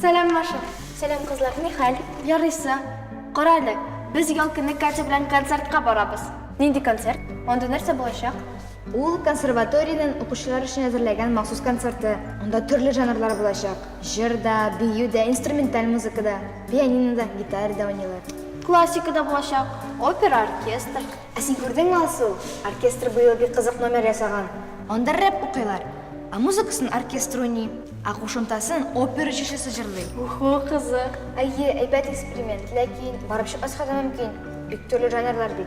Сәлам, Маша. Сәлам, кызлар, ни хәл? Ярыйсы. Кара әле, без ял көне Катя белән концертка барабыз. Нинди концерт? Анда нәрсә булачак? Ул консерваториянең укучылар өчен әзерләгән махсус концерты. Анда төрле жанрлар булачак. Җыр да, бию дә, инструменталь музыка да. Пианинода, гитарада уйныйлар. Классика да булачак, опера, оркестр. Ә син күрдеңме, Алсу, оркестр быел бик кызык номер ясаган. Анда рэп укыйлар, ә музыкасын оркестр уйный, ә кушымтасын опера җырчысы җырлый. Уху, кызык. Әйе, әйбәт эксперимент, ләкин барып чыкмаска да мөмкин, бик төрле жанрлар бит.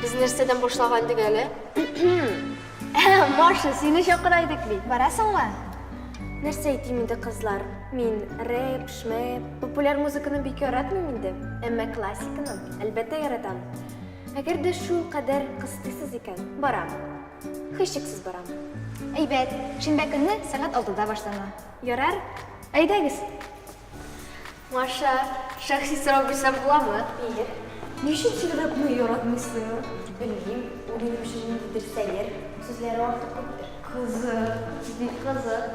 Без нәрсәдән башлаган идек әле? Маша, сине чакыра идек бит. Барасыңмы? Нәрсә әйтим инде, кызлар? Мин рэп, шмэп, популяр музыканы бик яратмыйм инде. Әмма классиканы, әлбәттә, яратам. Әгәр дә шул кадәр кыстыйсыз икән, барам. Һичшиксез барам. Әйбәт, шимбә көнне сәгать алтыда башлана. Ярар? Әйдәгез! Маша, шәхси сорау бирсәм буламы? Ир, ничек җырлыкны яратмыйсың? Белмим, ул минем өчен ниндидер сәер, сүзләре артык күптер. Кызык, бик кызык.